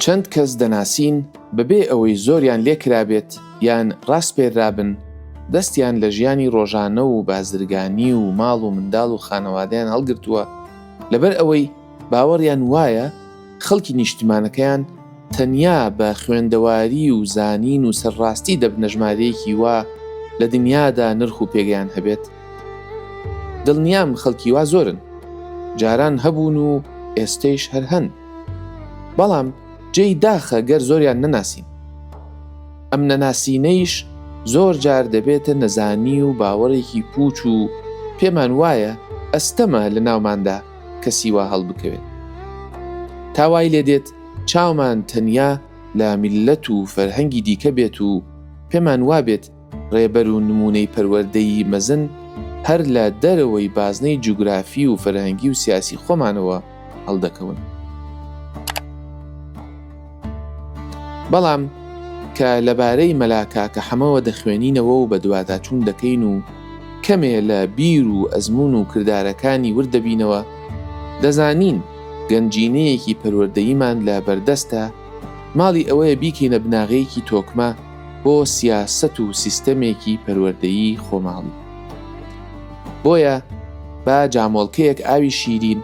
چەند کەس دەناسین بەبێ ئەوەی زۆریان لێکرابێت یان ڕاسپێرابن دەستیان لە ژیانی ڕۆژانە و بازرگانی و ماڵ و منداڵ و خانەوادیان هەڵگرتووە لەبەر ئەوەی باوەڕیان وایە خەڵکی نیشتیمانەکەیان تەنیا بە خوێندەواری و زانین و سەرڕاستی دەبنە ژمارەیەکی وا لە دنیادا نرخ و پێگەیان هەبێت؟ دڵنیام خەڵکی وا زۆرن، جاران هەبوون و ئێستەیش هەر هەن. بەڵام جێی داخە گەر زۆریان نەناسین. ئەم نەناسینەیش زۆر جار دەبێتە نەزانی و باوەڕێکی پووچ و پێمان وایە ئەستەمە لە ناوماندا، کەسی وا هەڵبکەوێت تا وای لێ دێت چاومان تەنیا لە میللەت و فەرهەنگی دیکە بێت و پێمان وا بێت ڕێبەر و نموونەی پەروەردەیی مەزن هەر لە دەرەوەی بازنەی جوگرافی و فەرهەنگی و سیاسی خۆمانەوە هەڵدەکەون. بەڵام کە لەبارەی مەلا کاکە حەمەوە دەخوێنینەوە و بەدواداچوون دەکەین و کەمێ لە بیر و ئەزموون و کردارەکانی ورد دەبینەوە، دەزانین گەنجینەیەکی پەروەردەییمان لە بەردەستە، ماڵی ئەوەیە بیکەینە بناغەیەکی تۆکمە بۆ سیاسەت و سیستەمێکی پەروەردەیی خۆماڵی. بۆیە با جامۆڵکەیەک ئاوی شیرین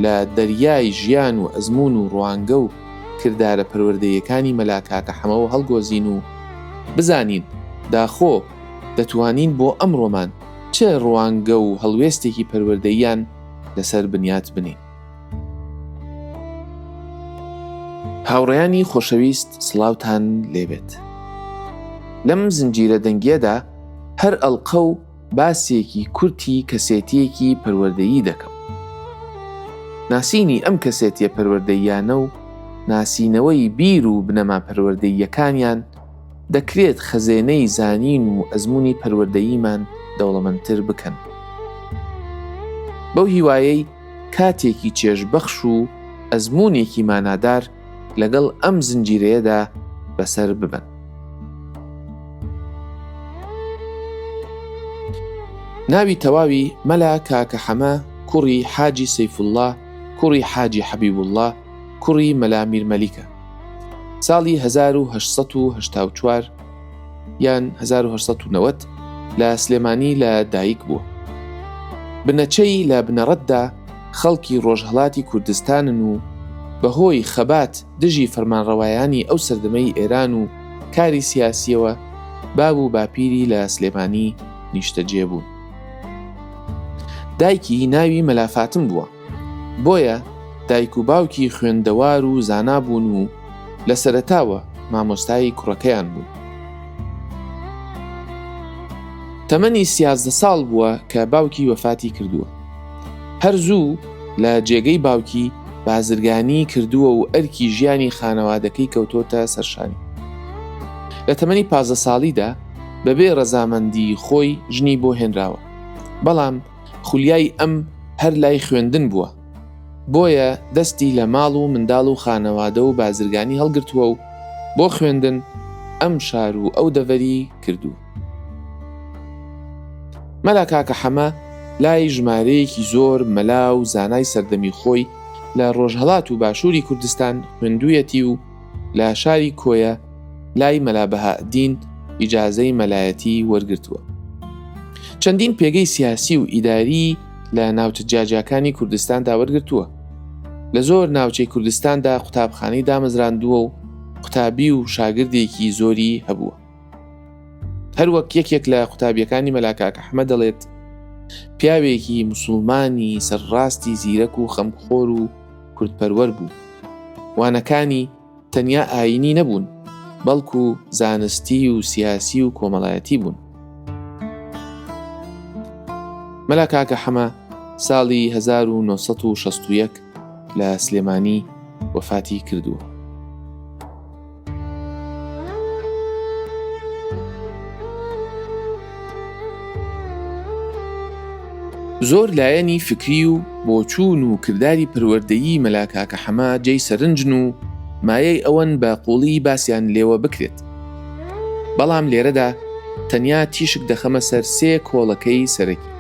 لە دەریای ژیان و ئەزموون و ڕوانگە و کردارە پەروەردەییەکانی مەلا کاکە حەمەوە هەڵگۆزین و بزانین داخۆ دەتوانین بۆ ئەمڕۆمان چ ڕوانگە و هەڵوێستێکی پەروەردەییان لەسەر بنیات بنێین. هاوڕێیانی خۆشەویست سڵاوتان لێبێت لەم زنجیرە دەنگیەدا هەر ئەڵقە و باسێکی کورتی کەسێتییەکی پەروەردەیی دەکەم. ناسینی ئەم کەسێتیە پەروەردەییانە و ناسینەوەی بیر و بنەما پەروەردەییەکانیان دەکرێت خەزێنەی زانین و ئەزمونی پەروەردەییمان دەوڵەمەندتر بکەن. بەو هیوایەی کاتێکی چێژبەخش و ئەزمونێکی مانادار لەگەڵ ئەم زنجیرەیەدا بەسەر ببەن. ناوی تەواوی مەلا کاکە حەمە کوڕی حاجی سەیفوڵڵا کوڕی حاجی حەبیبوڵڵا کوڕی مەلا میرمەلیکە ساڵی 1970 یان 1990 لە سلێمانی لە دایک بووە بنەچەی لە بنەڕەتدا خەڵکی ڕۆژهەڵاتی کوردستانن و بەهۆی خەبات دژی فەرمانڕەوایانی ئەو سەردەمەی ئێران و کاری سیاسییەوە باب و باپیری لە سلێمانی نیشتەجێ بوون. دایکی ناوی مەلا فاتم بووە، بۆیە دایک و باوکی خوێندەوار و زانا بوون و لە سەرەتاوە مامۆستای کوڕەکەیان بوون. تەمەنی سیازدە ساڵ بووە کە باوکی وەفاتی کردووە. هەر زوو لە جێگەی باوکی بازرگانی کردووە و ئەرکی ژیانی خانەوادەکەی کەوتۆتە سەرشانی. لە تەمەنی پازدە ساڵیدا بەبێ ڕەزامەندی خۆی ژنی بۆ هێنراوە، بەڵام خولیای ئەم هەر لای خوێندن بووە، بۆیە دەستی لە ماڵ و منداڵ و خانەوادە و بازرگانی هەڵگرتووە و بۆ خوێندن ئەم شار و ئەو دەڤەری کردووە. مەلا کاکە حەمە لای ژمارەیەکی زۆر مەلا و زانای سەردەمی خۆی لە ڕۆژهەڵات و باشووری کوردستان خوێندوویەتی و لە شاری کۆیە لای مەلا بەهائەدین ئیجازەی مەلایەتی وەرگرتووە چەندین پێگەی سیاسی و ئیداری لە ناوچە جیاجیاکانی کوردستاندا وەرگرتووە لە زۆر ناوچەی کوردستاندا قوتابخانەی دامەزراندووە و قوتابی و شاگردێکی زۆری هەبووە هەروەک یەکێک لە قوتابیەکانی مەلا کاک ئەحمە دەڵێت پیاوێکی مسلمانی سەرڕاستی زیرەک و خەمخۆر و کوردپەروەر بوو وانەکانی تەنیا ئاینی نەبوون بەڵکو زانستی و سیاسی و کۆمەڵایەتی بوون مەلا کاکە حەمە ساڵی 1960 لە سلێمانی وەفاتی کردووە زۆر لایەنی فکری و بۆچوون و کرداری پەروەردەیی مەلا کاکە حەمە جێی سەرنجن و مایەی ئەوەن بە قوڵی باسییان لێوە بکرێت بەڵام لێرەدا تەنیا تیشک دەخەمە سەر سێ کۆڵەکەی سەرەکی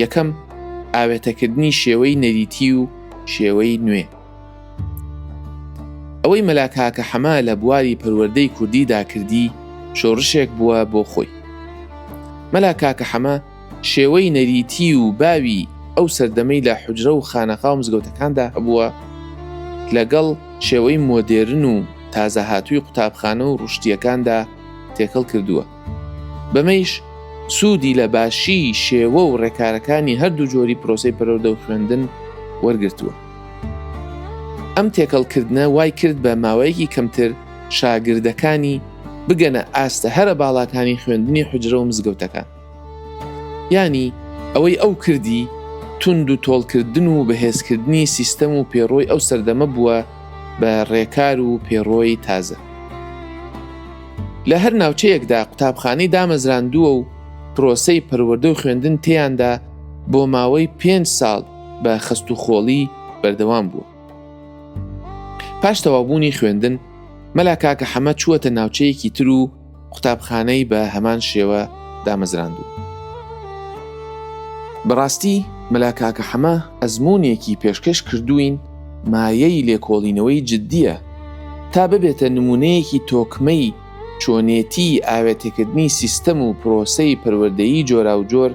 یەکەم ئاوێتەکردنی شێوەی نەریتی و شێوەی نوێ ئەوەی مەلا کاکە حەمە لە بواری پەروەردەی کوردیدا کردی شۆڕشێک بووە بۆ خۆی مەلا کاکە حەمە شێوەی نەریتی و باوی ئەو سەردەمەی لە حجرە و خانەقا و مزگەوتەکاندا هەبووە لەگەڵ شێوەی مۆدێرن و تازە هاتووی قوتابخانە و ڕشتیەکاندا تێکەڵ کردووە بەمەیش سوودی لە باشی شێوە و ڕێکارەکانی هەردوو جۆری پرۆسی پەرۆدە و خوێندن وەرگتووە. ئەم تێکەڵکردە وای کرد بە ماوەیەکی کەمتر شاگردەکانی بگەنە ئاستە هەرە باڵاکانی خوێندنی حجرە و مزگەوتەکان. ینی ئەوەی ئەو کردی تونند و تۆڵکردن و بەهێزکردنی سیستەم و پێڕۆی ئەو سەردەمە بووە بە ڕێکار و پێڕۆی تازە. لە هەر ناوچەیەکدا قوتابخانەی دامەزراندووە و پرۆسەی پەروەردە و خوێندن تێیاندا بۆ ماوەی پێنج ساڵ بە خەست و خۆڵی بەردەوام بوو. پاش تەوابوونی خوێندن مەلا کاکە حەمە چووەتە ناوچەیەکی تر و قوتابخانەی بە هەمان شێوە دامەزراندوو. بەڕاستی مەلا کاکە حەمە ئەزموونێکی پێشکەش کردووین مایەی لێکۆڵینەوەی جددییە تا ببێتە نموونەیەکی تۆکمەی چۆنێتیی ئاوێتەکردنی سیستەم و پرۆسەی پەروەردەیی جۆراوجۆر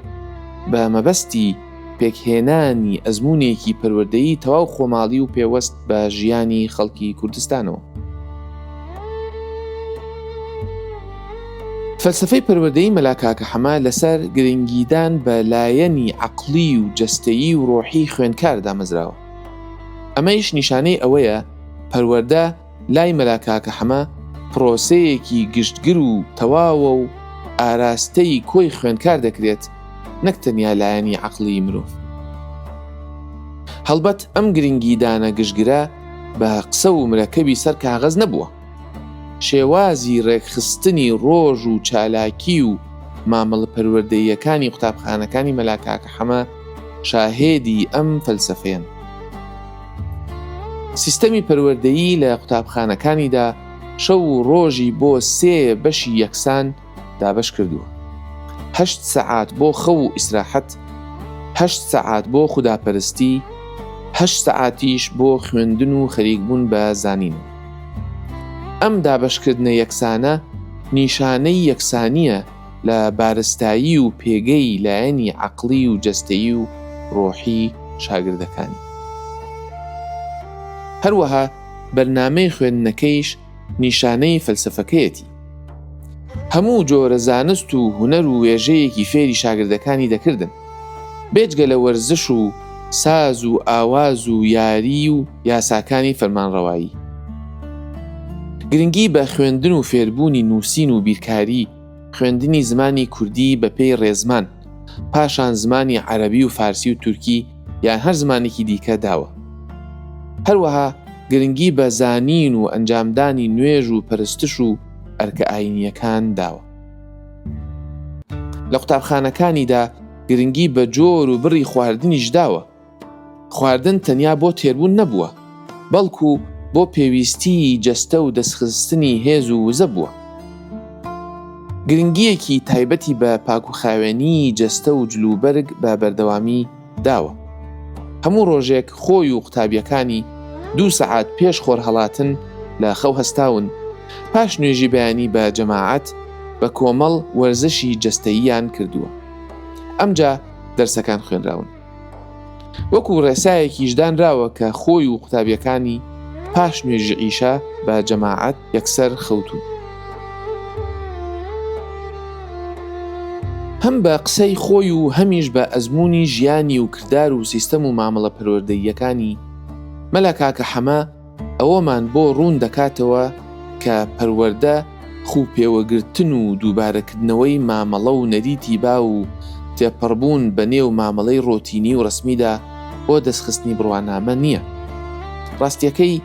بە مەبەستی پێکهێنانی ئەزموونێکی پەروەردەیی تەواو خۆماڵی و پێوەست بە ژیانی خەڵکی کوردستانەوە. فەلسەفەی پەروەردەی مەلا کاکە حەمە لەسەر گرنگیدان بە لایەنی عەقڵی و جەستەیی و ڕۆحی خوێندکار دامەزراوە. ئەمەیش نیشانەی ئەوەیە پەروەردە لای مەلا کاکە حەمە پرۆسەیەکی گشتگر و تەواوە و ئاراستەی کۆی خوێندکار دەکرێت نەک تەنیا لایەنی عەقڵیی مرۆڤ. هەڵبەت ئەم گرنگیدانە گشتگرە بە قسە و مرەکەبی سەر کاغەز نەبووە. شێوازی ڕێکخستنی ڕۆژ و چالاکی و مامەڵە پەروەردەییەکانی قوتابخانەکانی مەلا کاکە حەمە شاهێدی ئەم فەلسەفەیەن. سیستەمی پەروەردەیی لە قوتابخانەکانیدا شەو و ڕۆژی بۆ سێ بەشی یەکسان، دابەش کردووە هەشت سەعات بۆ خەو و ئیسراحەت هەشت سەعات بۆ خوداپەرستی هەشت سەعاتیش بۆ خوێندن و خەریکبوون بە زانین ئەم دابەشکردنە یەکسانە نیشانەی یەکسانیە لە بارستایی و پێگەی لایەنی عقلی و جەستەیی و ڕۆحی شاگردەکانی هەروەها بەرنمەی خوێندنەکەیش نیشانەی فەلسەفەکەیەتی. هەموو جۆرە زانست و هونەر و وێژەیەکی فێری شاگردەکانی دەکردن، بێجگە لە وەرزش و ساز و ئاواز و یاری و یاساکانی فەرمانڕەوایی. گرنگی بە خوێندن و فێربوونی نووسین و بیرکاری، خوێندنی زمانی کوردی بە پێی ڕێزمان، پاشان زمانی عەرەبی و فارسی و تورکی یان هەر زمانێکی دیکە داوە. هەروەها گرنگی بە زانین و ئەنجامدانی نوێژ و پەرستش و ئەرکە ئایینییەکان داوە. لە قوتابخانەکانیدا گرنگی بە جۆر و بڕی خواردنیش داوە. خواردن تەنیا بۆ تێربوون نەبووە، بەڵکو بۆ پێویستیی جەستە و دەستخستنی هێز و وزە بووە. گرنگییەکی تایبەتی بە پاکوخاوێنیی جەستە و جلوبەرگ بە بەردەوامی داوە. هەموو ڕۆژێک خۆی و قوتابییەکانی دوو سەعات پێش خۆرهەڵاتن لە خەو هەستاون، پاش نوێژی بەیانی بە جەماعەت بە کۆمەڵ وەرزشی جەستەییان کردووە. ئەمجا دەرسەکان خوێنراون. وەکو ڕێسایەکیش دانراوە کە خۆی و قوتابیەکانی پاش نوێژی عیشا بە جەماعەت یەکسەر خەوتون هەم بە قسەی خۆی و هەمیش بە ئەزمموی ژیانی و کردار و سیستەم و مامەڵە پەروەردەییەکانی مەلا کاکە حەمە ئەوەمان بۆ ڕوون دەکاتەوە کە پەروەردە خوو پێوەگرتن و دووبارەکردنەوەی مامەڵە و نەریتی باو و تێپەڕبوون بە نێو مامەڵەی ڕۆتینی و ڕەسمیدا بۆ دەستخستنی بڕوانامە نییە. ڕاستییەکەی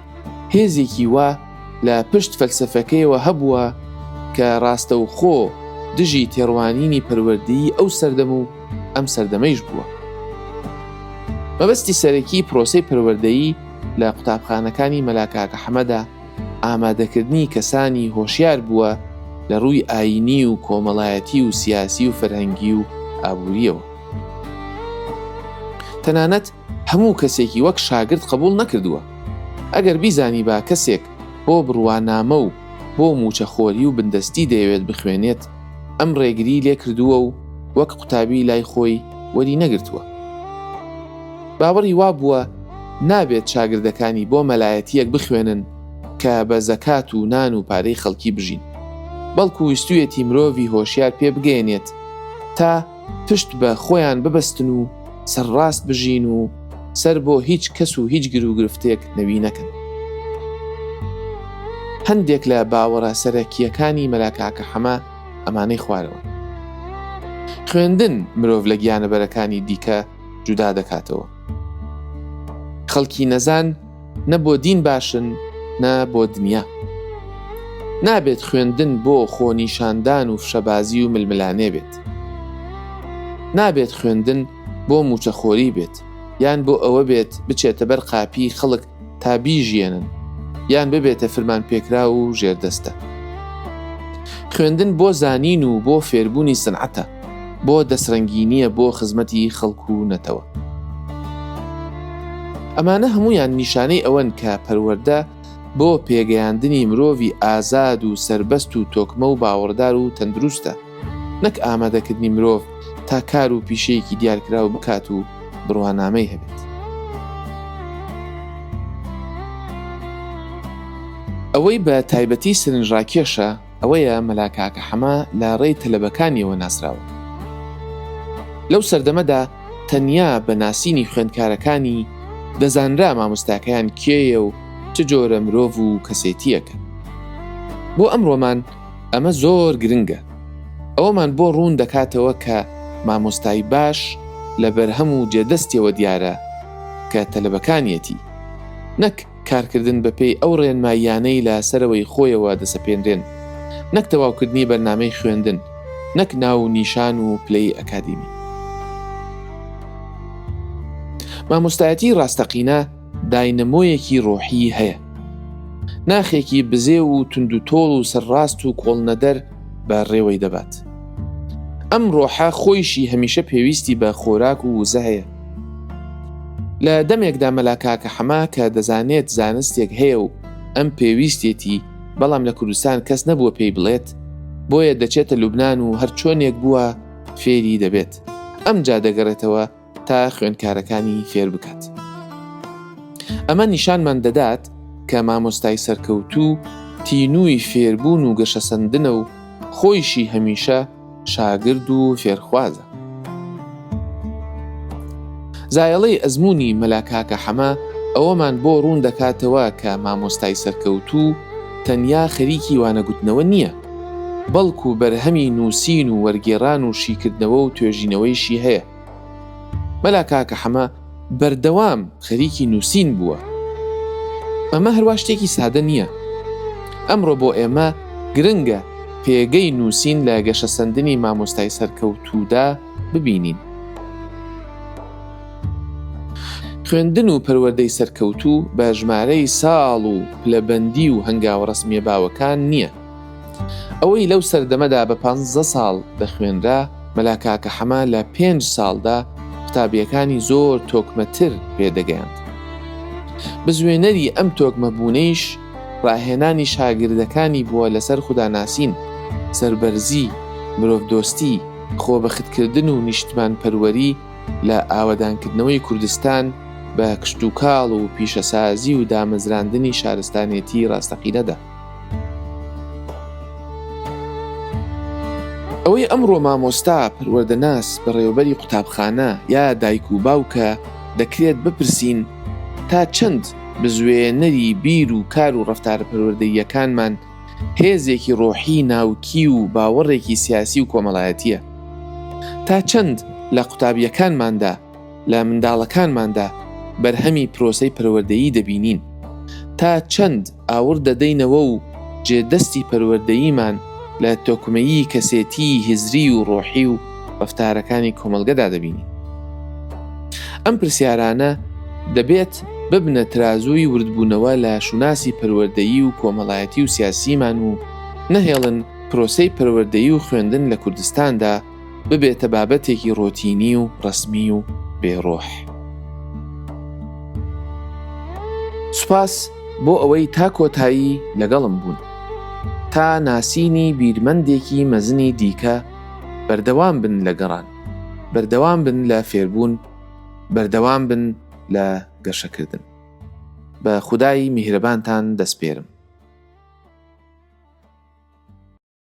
هێزێکی وا لە پشت فەلسەفەکەیەوە هەبووە کە ڕاستەوخۆ دژی تێڕوانینی پەروەردەیی ئەو سەردەم و ئەم سەردەمەیش بووە. مەبەستی سەرەکیی پرۆسەی پەروەردەیی، لە قوتابخانەکانی مەلا کاکە حەمەدا ئامادەکردنی کەسانی هۆشیار بووە لە ڕووی ئاینی و کۆمەڵایەتی و سیاسی و فەرهەنگی و ئابووریەوە تەنانەت هەموو کەسێکی وەک شاگرد قبول نەکردووە ئەگەر بیزانی با کەسێک بۆ بڕوانامە و بۆ موچەخۆری و بندەستی دەیەوێت بخوێنێت ئەم ڕێگری لێ کردووە و وەک قوتابی لای خۆی وەری نەگرتووە باوەڕی وا بووە نابێت چاگردەکانی بۆ مەلایەتییەک بخوێنن کە بە زەکات و نان و پارەی خەڵکی بژین، بەڵکو ویستویەتی مرۆڤی هۆشیار پێ بگەیەنێت تا پشت بە خۆیان ببەستن و سەرڕاست بژین و سەر بۆ هیچ کەس و هیچ گروگرفتێک نەوی نەکەن. هەندێک لە باوەڕە سەرەکییەکانی مەلا کاکە حەمە ئەمانەی خوارەوەن. خوێندن مرۆڤ لە گیانەبەرەکانی دیکە جودا دەکاتەوە خەڵکی نەزان نە بۆ دین باشن نە بۆ دنیا نابێت خوێندن بۆ خۆنیشاندان و فشەبازی و ململانێ بێت نابێت خوێندن بۆ موچەخۆری بێت یان بۆ ئەوە بێت بچێتە بەر قاپی خەڵک تا بیژیێنن یان ببێتە فرمان پێکرا و ژێردەستە خوێندن بۆ زانین و بۆ فێربوونی سنعەتە بۆ دەسرەنگینیە بۆ خزمەتی خەڵکو و نەتەوە ئەمانە هەمویان نیشانەی ئەوەن کە پەروەەردە بۆ پێگەیاندنی مرۆڤی ئازاد و سربەست و تۆکمە و باوەڕدار و تەندروستە نەک ئامادەکردنی مرۆڤ تا کار و پیشەیەکی دیارکراو بکات و بڕوانامەی هەبێت. ئەوەی بە تایبەتی سەرنجڕاکێشە ئەوەیە مەلا کاکە حەمە لە ڕێی تەلەبەکانیەوە ناسراوە. لەو سەردەمەدا تەنیا بە ناسینی خوێندکارەکانی دەزانرا مامۆستاکەیان کێیە و چ جۆرە مرۆڤ و کەسێتییەکە. بۆ ئەمڕۆمان ئەمە زۆر گرنگە، ئەوەمان بۆ ڕوون دەکاتەوە کە مامۆستای باش لە بەرهەم و جێدەستیەوە دیارە کە تەلەبەکانیەتی، نەک کارکردن بەپێی ئەو ڕێنماییانەی لە سەرەوەی خۆیەوە دەسەپێنرێن، نەک تەواوکردنی بەرنامەی خوێندن، نەک ناو و نیشان و پلەی ئەکادیمی. مامۆستایەتی ڕاستەقینە، داینەمۆیەکی ڕۆحیی هەیە. ناخێکی بزێو و توندوتۆڵ و سەرڕاست و کۆڵنەدەر بە ڕێوەی دەبات. ئەم ڕۆحە خۆیشی هەمیشە پێویستی بە خۆراک و وزە هەیە. لە دەمێکدا مەلا کاکە حەمە کە دەزانێت زانستێک هەیە و ئەم پێویستێتی، بەڵام لە کوردستان کەس نەبووە پێی بڵێت، بۆیە دەچێتە لوبنان و هەرچۆنێک بووە فێری دەبێت. ئەمجا دەگەڕێتەوە تا خوێندکارەکانی فێر بکات ئەمە نیشانمان دەدات کە مامۆستای سەرکەوتوو تینووی فێربوون و گەشەسەندنە و خۆیشی هەمیشە شاگرد و فێرخوازە زایەڵەی ئەزمموی مەلاکاکە حەمە ئەوەمان بۆ ڕوون دەکاتەوە کە مامۆستای سەرکەوتوو تەنیا خەریکی وانەگوتنەوە نییە بەڵکو بەرهەمی نووسین و وەرگێران و شیکردنەوە و توێژینەوەیشی هەیە مەلا کاکە حەمە بەردەوام خەریکی نووسین بووە ئەمە هەروا شتێکی سادە نییە ئەمڕۆ بۆ ئێمە گرنگە پێگەی نووسین لە گەشە سندنی مامۆستای سەرکەوتوودا ببینین خوێندن و پەروەدەی سەرکەوتوو بە ژمارەی ساڵ و پلەبەندی و هەنگاوە ڕسمیە باوەکان نییە ئەوەی لەو سەردەمەدا بە پانزە ساڵ دەخوێنرا، مەلا کاکە حەمە لە پێنج ساڵدا قوتابییەکانی زۆر تۆکمەتر پێ دەگەیاند. بزوێنەری ئەم تۆکمەبوونەیش ڕاهێنانی شاگردەکانی بووە لەسەر خوداناسین، سەربەرزی، مرۆڤدۆستی، خۆبەختکردن و نیشتمانپەروەری لە ئاوەدانکردنەوەی کوردستان بە کشتوکاڵ و پیشەسازی و دامەزراندنی شارستانێتیی ڕاستەقینەدا. ئەوەی ئەمڕۆ مامۆستا، پەروەردەناس، بەڕێوەبەری قوتابخانە یا دایک و باوکە، دەکرێت بپرسین تا چەند بزوێنەری بیر و کار و ڕەفتارە پەروەردەییەکانمان هێزێکی ڕۆحی ناوکی و باوەڕێکی سیاسی و کۆمەڵایەتیە؟ تا چەند لە قوتابیەکانماندا لە منداڵەکانماندا بەرهەمی پرۆسەی پەروەردەیی دەبینین، تا چەند ئاوڕ دەدەینەوە و جێ دەستی پەروەردەییمان لە تۆکمەیی کەسێتیی هزری و ڕۆحی و ڕەفتارەکانی کۆمەڵگەدا دەبینین؟ ئەم پرسیارانە دەبێت ببنە ترازووی وردبوونەوە لە شوناسی پەروەردەیی و کۆمەڵایەتی و سیاسیمان و نەهێڵن پرۆسەی پەروەردەیی و خوێندن لە کوردستاندا ببێتە بابەتێکی ڕۆتینی و ڕەسمی و بێ ڕۆح. سوپاس بۆ ئەوەی تا کۆتایی لەگەڵم بوون. تا ناسینی بیرمەندێکی مەزنی دیکە بەردەوام بن لە گەڕان، بەردەوام بن لە فێربوون، بەردەوام بن لە گەشەکردن. بە خودای میهرەبانتان دەسپێرم.